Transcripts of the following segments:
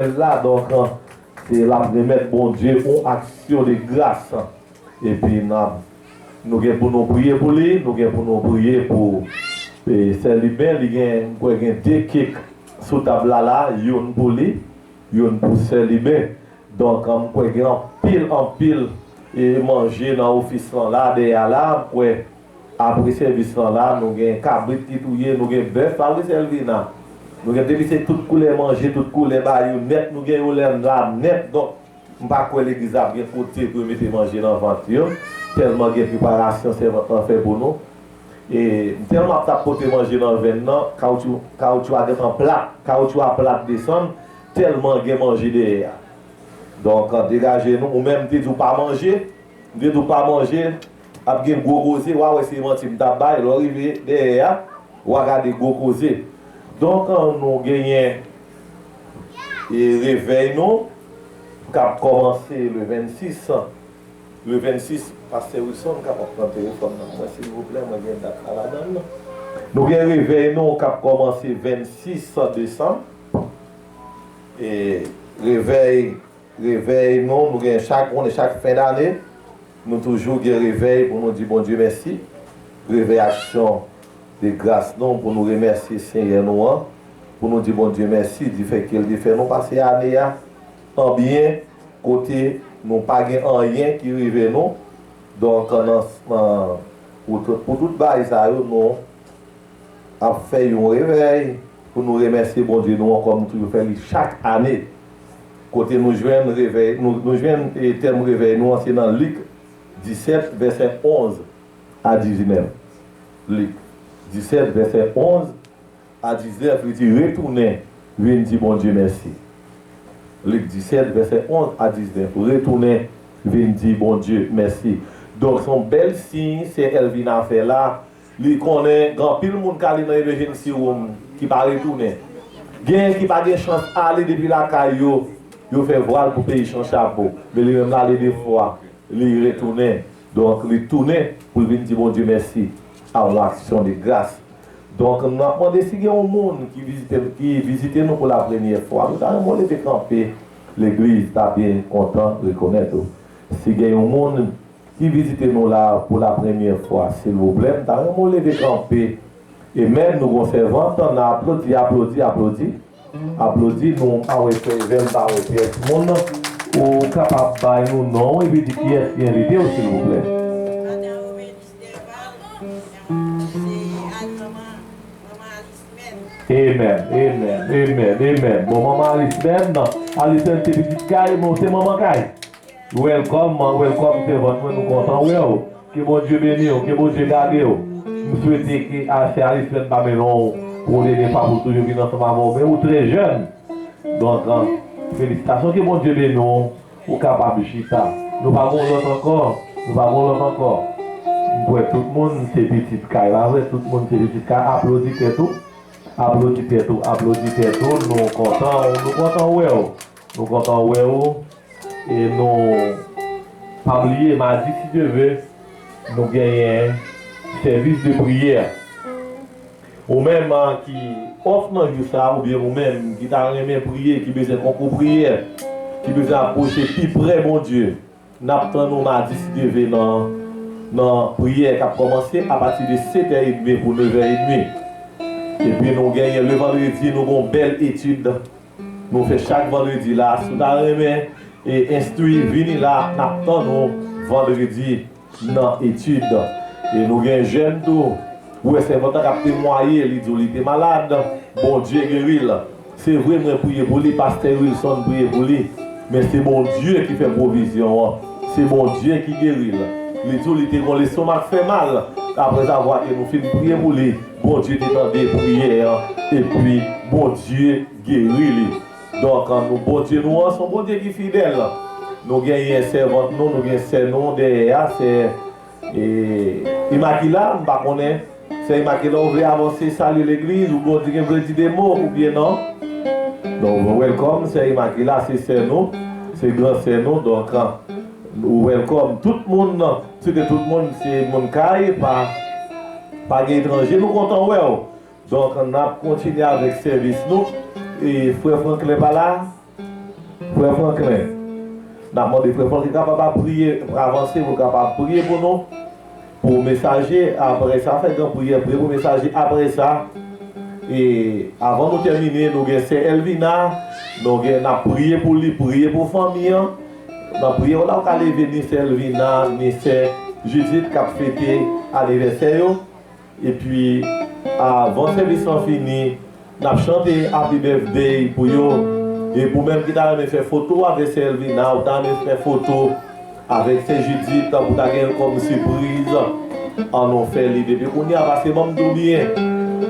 Èd la donk se l ap remèt Bondye yon aksyon de gras. Epi n ap nou gen pou nou priye pou li, nou gen pou nou priye pou sè Liben. Li gen m kwè gen de kik sou tab la la, youn pou li, youn pou sè Liben. Donk m kwè gen anpil anpil manje nan ofis lan la dèyè a la m kwè. Apre sèvis lan la nou gen kabrit ki touye nou gen bèf pa vre Selvina nou gen depi se tout koulè manje tout koulè bayo nèt nou gen yo lè la nèt donk m pa kwè legliz la ap gen kote pou yo mete manje nan vant yo tèlman gen preparasyon sèvant lan fè pou nou e m tèlman ap tap pote manje nan venn nan kawoutchou kawoutchou a gentan plat kawoutchou a plat desann tèlman gen manje dèyè a donk degaje nou ou menm m te di w pa manje m te di w pa manje. Ap gen gwo koze, wa wè se manti m tap bay, lè w rive dèyè a, wa gade gwo koze. Donk nou genyen revèy nou kap kòmanse le 26, le 26 pastè Wilson kapab pran telefòn nan pou mwen silvouplè mwen gen dat la ladan l. Nou gen revèy nou kap kòmanse 26 desanm e revèy. Revèy nou, nou genyen chak one, chak fen dane, nou toujou gen revèy pou nou di Bondye mèsi, revèy aksyon de gras nou pou nou remèsye Senyè nou an, pou nou di Bondye mèsi difèke l te fè nou pase ane a an byen kote nou pa gen anyen ki rive nou, donk nan pou tout bagay sa yo nou. ap fè yon revèy pou nou remèsye Bondye nou an kòm nou toujou fè li chak ane. Kote nou jwenn revèy nou jwenn tèm revèy nou an se nan Lik 17 vèsè 11 a 19 Lik 17 vèsè 11 a 19 li di retounen vin di Bondye mèsi Lik 17 vèsè 11 a 19 retounen vin di Bondye mèsi donk son bèl siy sè Elvina fè la. Li konnen gen anpil moun k ale nan emejensi woum ki pa retounen. Genyen ki pa gen chans ale depi lakay yo, yo fè vwal pou peyi chan chapo. Men li menm l ale de fwa, li retounen. Donk li tounen pou l vin di Bondye mèsi ak yon aksyon de gras. Donk m ap mande si gen yon moun ki vizite m ki vizite nou pou lapremyè fwa, nou ta renmen w leve kanpe, legliz ta byen kontan rekonèt ou. Si gen yon moun. ki vizite nou la pou la premyè fwa silvouplè m ta renmen w leve kanpe e menm nou gon sèvant tan nan aplodi aplodi aplodi aplodi nou m pa wè fèy vèt m pa wè pyès moun ou kapab bay nou non w epi di kiyès ki envite w silvouplè. Madan Omelis Dèval se al manman manman Alis menm. Amen amen amen amen bon manman Alis menm Alis menm se pitit kay men w se manman kay. Welcome man welcome sèvant mwen nou kontan wèw ke Bondye beniw ke Bondye gadew m swete ke afè a Islèn pa mennenw pou de de fwa pou toujou vin ansanm avèw men ou trè jèn donk felisitasyon ke Bondye beniw ou kapab chita nou pa gon lòt ankò nou pa gon lòt ankò m kwè tout moun se pitit kay pa vre tout moun se pitit kay aplodi tèt ou aplodi tèt ou aplodi tèt ou nou kontanw nou kontan wèw. Nou kontan wè ou e nou pa bliye madi si Dye ve nou genyen sèvis de priyè. Ou menm ki off nan jou sa oubyen ou menm ki ta renmen priye ki bezwen konkou priyè ki bezwen apwoche pi prè Bondye nap tann ou madi si Dye ve nan nan priyè kap kòmanse apati de setè edmi pou nevè edmi. Epi nou genyen le vandredi nou gon bèl etid. Nou fè chak vendredi la si w ta renmen enstwi vini la nap tann ou vendredi nan etid e nou gen jèn tou ou wè sèvant la kap temwaye li di w li te malad Bondye geri l se vre mwen priye pou li pastè Wilson priye pou li men se Bondye ki fè pwovizyon an se Bondye ki geri l li di w li te gon lestomak fè mal aprèzavwa ke nou fin priye pou li. Bondye te tande priyè an epi Bondye geri li donk nou Bondye nou an son Bondye ki fidèl nou genyen sèvant nou nou gen sè nou dèyè a sè Imakila m pa konnen sè Imakila ou vle avanse salye legliz ou gen vle di de mo oubyen non donk welcome sè Imakila se sè nou se gran sè nou donk ou welcome tout moun. Se te tout moun se moun kay pa pa gen etranje nou kontan wèw donk nap kontinye avèk sèvis nou e frè Franklin pa la frè Franklin nap mande frè Franklin kapab ap priye avanse poul kapab priye pou nou pou mesaje aprè sa fè gran priyè priye pou mesaje aprè sa e avan nou tèmine nou gen sè Elvina nou gen nap priye pou li priye pou fanmi an. Nan priyè w la ou ka leve ni sè Lvina ni sè Judith kap fete anivèsè yo epi avan sèvis lan fini nap chante Happy Birthday pou yo epi ou menm ki ta renmen fè foto avèk sè Lvina ou ta renmen fè foto avèk sè Judith pou ta gen l kòm sipriz an nou fè li depi kounye a pase banm tou byen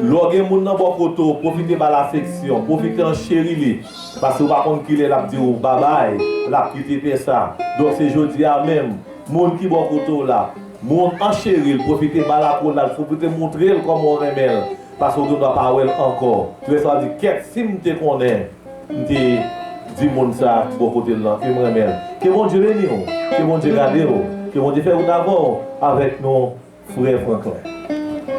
lè w gen moun nan bò kote w pwofite ba l afeksyon pwofite an cheri li. Paske ou pa konn kilè lap di ou babay, lap kite tè sa. Donk se jodi a menm. Moun ki bò kote w la. Moun an cheri l, pwofite ba l akoul la, pwofite moutre l kòman ou renmen l. Paske ou gen dwa pa wè l ankò. Lè sa w di kèt si m te konnen m te di moun sa ki bò kote l lan ke m renmen l. Ke Bondye beni w. Ke Bondye gade w. Ke Bondye fè wout avè w. Avèk nou frè Franklin.